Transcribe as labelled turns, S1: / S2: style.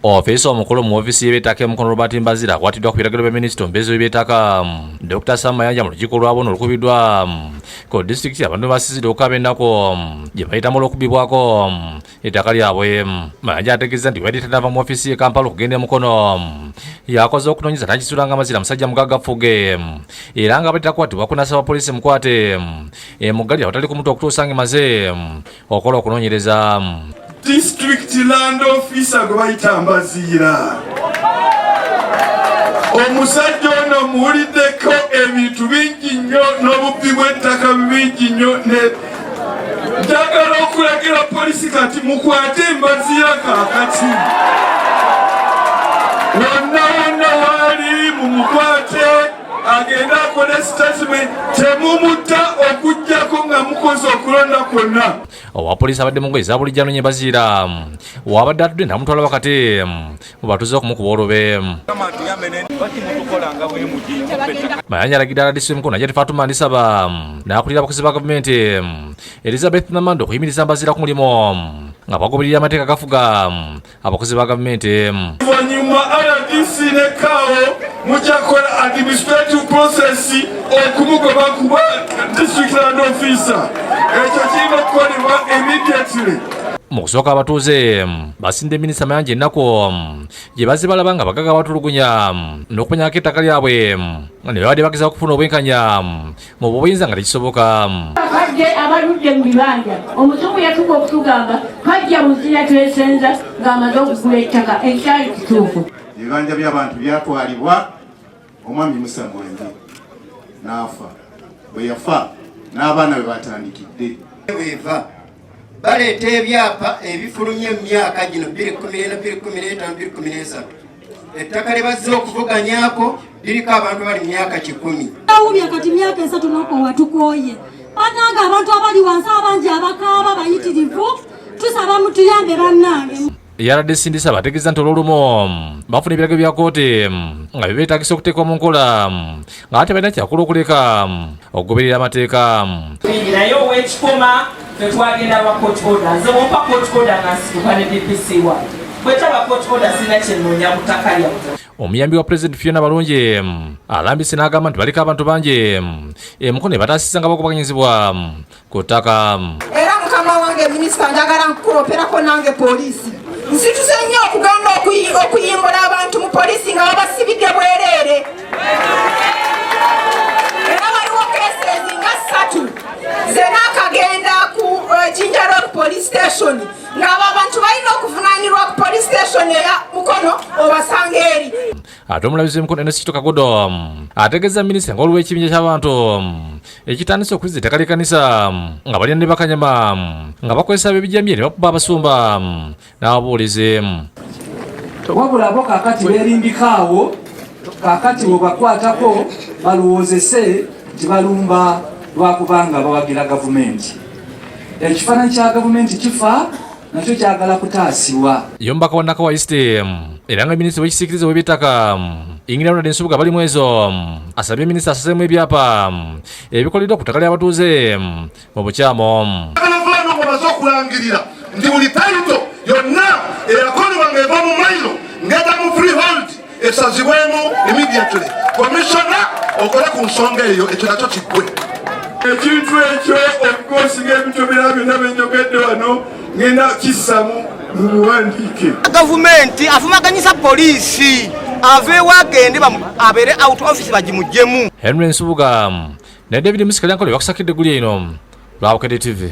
S1: ofiisa omukulu mu ofiisi y'eby'ettaka e mukono robert mbazira akwatiddwa ku biragiro bya minisita omubeezi w'eby'ettaka dr sam mayanja mu lukiiko lwabono olukubiddwa ku disitulikiti abantu basizidde okukaba ennaku gye bayitamu olw'okubibwako ettaka lyabwe mayanja ategeeza nti weyali tanava mu ofiisi ye kampala okugenda e mukono yakoze okunoonyeza nakisuula nga mazira musajja mugagga fuge era nga abadde takwatibwa kunasaba poliisi mukwate emuggalira awatali kumuta okutuusa ng'emaze okola okunonyereza district
S2: land officer gwe bayita mbaziira omusajja ono muwuliddeko ebintu bingi nnyo n'obubbi bw'ettaka bingi nnyo njagala okulagira polisi kati mukwate embaziira kakati wonna wonna waali mumukwate agende akole statement temumutta okujjako nga mukoze okulonda kwonna owapoliisi abadde
S1: mungoye zabulijja nonye baziira wabadde atudde namutwala wakati mubatuze okumukuba olube mayanja alagidde aladisi emikono ajati fatuma ndisaba nakulira abakozi ba gavumenti elizabeth namanda okuyimiriza mbaziira ku mulimu nga bagoberera amateeka gafuga abakozi ba gavumenti emu oluvannyuma
S2: rdc ne kaawo mujakola administrative process okumugoba kuba district land officer ekyo kirina okukolebwa immediately mu kusooka
S1: abatuuze basinde minisita mayanja ennaku gye bazze balaba nga bagaga batulugunya n'okumenyako ettaka lyabwe nga ne babadde bagezaako okufuna obwenkanya mu buyinza nga tekisoboka kajje
S3: abaludde mu bibanja omusungu yatuka okutugamba kajja muzina twesenza ng'amaze okugula ettaka ekyali kituufu ebibanja by'abantu
S4: byatwalibwa omwami musa mwenje n'afa bwe yafa n'abaana bwe batandikidde bweva
S5: baleeta ebyapa ebifulumye mu myaka gino 2014 2015 2013 ettaka lye bazze okuvuganyako liriko abantu bali myaka kikumi awubye kati myaka
S6: esatu nokowa tukooye banange abantu abali wansi abangi abakaaba bayitirivu tusaba mutuyambe bannange eyabadde sindisa
S1: bategeeza nti olwolumu bafuna ebirago bya kooti nga byebeetagisa okuteekwa mu nkola nga ate balina kyakula okuleka okugoberera amateeka naye
S7: owekikoma tetwagenda lwa court order nze wompa court order nga nsituka ne dpc wa bwetaba court order sirina kyenoonya mu ttaka lyaffe omuyambi wa president
S1: fiona balungi mm, alambise n'agamba nti baliko abantu bangi mm, emukono ebataasisa nga bakubaganyizibwa mm, ku ttaka. Era mukama
S8: wange minisita njagala nkukuloperako nange poliisi nsituse nnyo okugamba okuyimbula abantu mu poliisi nga babasibidde bwereere era waliwo kesezi nga ssatu zenaakagenda ku eh, jinja road police station ng'abo abantu balina okuvunanirwa ku police station eya mukono obasanga eri ate omulabizi
S1: w'emikono enesito kagodo ategeeza minisita nga waliwo ekibinja ky'abantu ekitandise okuliza ettaka ly'ekkanisa nga balina ne bakanyama nga bakozesa ab'ebijambiya ne bakuba abasumba n'ababuulizi
S9: wabula bo kakati beerimbika awo kakati bwebakwatako balowoozese nti balumba lwakubanga bawagira gavumenti ekifaananyi kya gavumenti kifa nakyo kyagala kutaasibwa yombaka wa nakawa
S1: east era nga minisita w'ekisiikirize w'eby'ettaka ingira ronald nsubuga bali mwezo asabye minisita asazeemu ebyapa ebikoleddwa ku ttaka ly'abatuuze mu bukyamo baze
S2: okulangirira nti buli tayito yonna eyakolebwa ng'eva mu mailo ng'eta mu freehold esazibwemu immediately komishona okole ku nsonga eyo ekyo nakyo kiggwe ekintu ekyo okukosinga ebitomera byonna byenyogedde wano ngenda kissamu mu buwandiike gavumenti
S5: afumaganyisa poliisi aveewo agende abeere out office bagimugyemu henry
S1: nsubuga ne david musikalyankole bakusakidde guli eno lwabukede tv